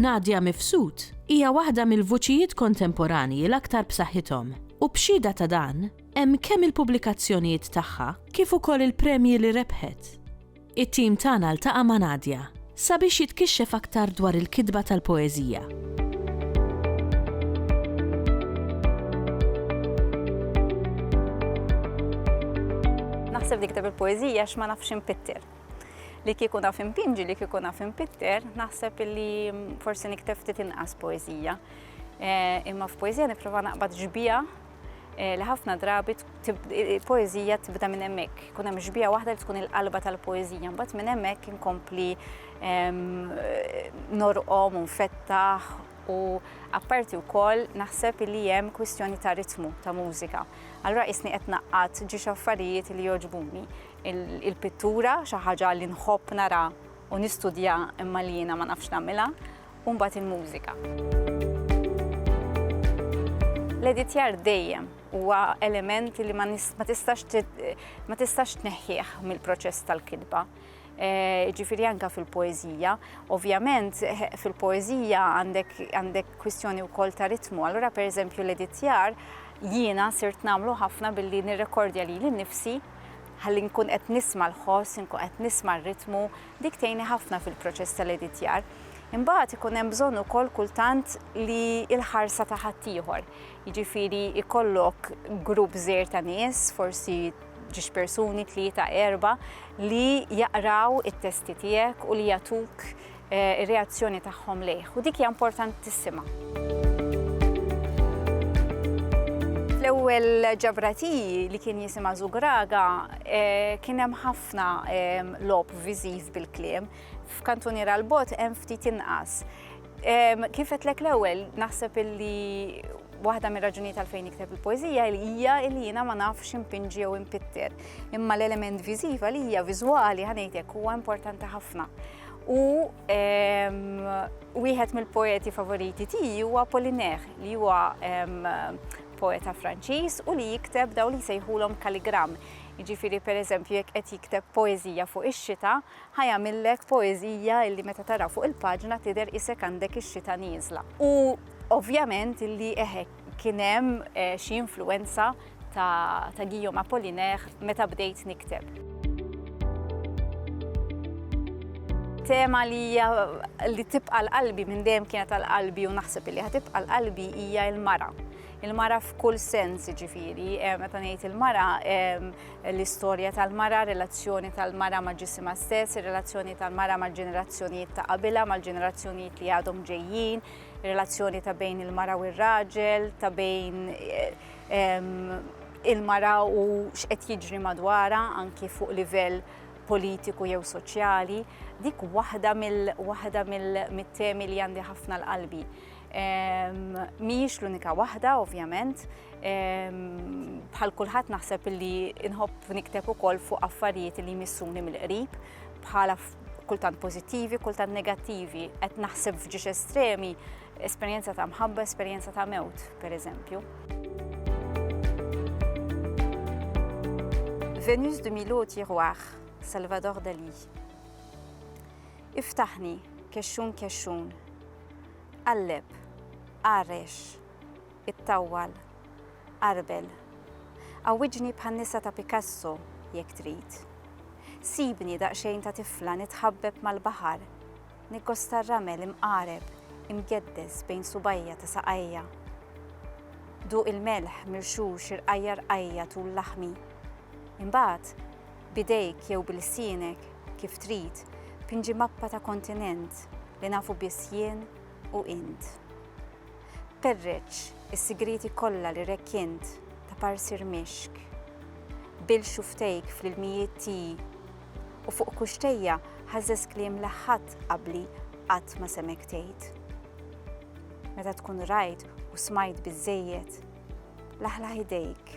Nadia Mifsud hija waħda mill-vuċijiet kontemporanji l-aktar b'saħħithom u b'xhieda ta' dan hemm kemm il-pubblikazzjonijiet tagħha kif ukoll il-premji li rebħet. It-tim tagħna ltaqa' ma' Nadia sabiex jitkixxef aktar dwar il-kitba tal-poeżija. naħseb li kitab il-poezija x'ma nafx impitter. Li kieku naf impinġi, li kieku naf impitter, naħseb li mm, forsi nikteb ftit inqas poezija. Eh, imma f'poezija nipprova naqbad ġbija Eh, li ħafna drabi poezija tibda minn hemmhekk. Kun hemm xbija waħda li tkun il-qalba tal-poezija, mbagħad minn hemmhekk inkompli ehm, norqom u nfettaħ u apparti wkoll naħseb li hemm kwistjoni ta' ritmu ta' mużika. Allura isni qed naqqat ġiex affarijiet li joġbuni. Il-pittura xi ħaġa li nħobb nara u nistudja imma li jiena ma nafx nagħmilha u mbagħad il-mużika. L-editjar dejjem huwa element li ma tistax tneħħieħ mill-proċess tal-kitba. Eh, ġifiri anka fil-poezija. Ovvjament, eh, fil-poezija għandek kwistjoni u kol ta' ritmu. Allora, per eżempju, l-editjar jiena sirt namlu ħafna billi nirrekordja li l-nifsi ħalli nkun qed nisma l-ħoss, nkun qed nisma r-ritmu, Dik tgħinni ħafna fil-proċess tal-editjar. Imbagħad ikun hemm bżonn ukoll kultant li l-ħarsa ta' ħaddieħor. Jiġifieri ikollok grupp żgħir ta' nies, forsi ġiex persuni tlieta erba' li jaqraw it-testi tiegħek u li jagħtuk eh, ir-reazzjoni tagħhom lejh. U dik hija importantissima. l-ewwel ġabrati li kien jisimha Zugraga eh, kien hemm ħafna logħob viżiv bil-kliem, f'kantunier għal bot hemm ftit inqas. Kif qedlek l-ewwel naħseb illi waħda mir raġunijiet għalfejn nikteb il-poezija li hija li jiena ma nafx impinġi jew impitter. Imma l-element viżiva li hija viżwali ħanejtek huwa importanti ħafna. U wieħed mill-poeti favoriti tiegħi huwa Poliner li huwa poeta Franċiż u li jikteb daw li sejħulhom kaligram. Jiġifieri pereżempju jekk qed jikteb poeżija fuq ix-xita, ħa jagħmillek poeżija illi meta taraha fuq il-paġna tidher qisek għandek ix-xita nieżla. U ovvjament illi eħe kien hemm xi influwenza ta' ta' Guillaume Apollinaire meta bdejt nikteb. Tema li hija li tibqa' l-qalbi minn dejjem kienet għal qalbi u naħseb illi ħa tibqa' l-qalbi hija l-mara. Il-mara f'kull sens, ġifiri, eh, meta ngħid il-mara, ehm, l-istorja tal-mara, relazzjoni tal-mara ma' ġisima stess, relazzjoni tal-mara ma' ġenerazzjonijiet ta' qabila, ma' ġenerazzjonijiet li għadhom ġejjin, relazzjoni ta' bejn il-mara u r-raġel, ta' bejn eh, ehm, il-mara u x'qed jiġri madwara anki fuq livell politiku jew soċjali, dik waħda mill-temi li għandi ħafna l-qalbi. Mhijiex l-unika waħda, ovvjament. Bħal kulħadd naħseb li nħobb nikteb ukoll fuq affarijiet li jmissuni mill-qrib bħala kultant pożittivi, kultant negattivi. Qed naħseb f'ġiex estremi, esperjenza ta' mħabba, esperjenza ta' mewt, per eżempju. Venus de Milo Tiroir, Salvador Dali. Iftaħni, kexxun kexxun, Qalleb, qarrex, ittawwal, qarbel. Għawwiġni bħan-nisa ta' Picasso, jekk trid. Sibni daqsxejn ta' tifla nitħabbeb mal-baħar, niggosta r-ramel imqareb, imgeddes bejn subgħajja ta' saqajja. Duq il-melħ mirxux irqajja' rqajja' tul laħmi. Imbagħad, b'idejk jew b'ilsienek, kif trid, pinġi mappa ta' kontinent li nafu biss jien u int. Perreċ is-sigrieti kollha li rekkjent ta' parsir mixk. Bil xuftejk fl-ilmijiet tiegħi u fuq kuxtejja ħażżeż kliem li ħadd qabli qatt ma semgħek tgħid. Meta tkun rajt u smajt biżżejjed, laħlaħ idejk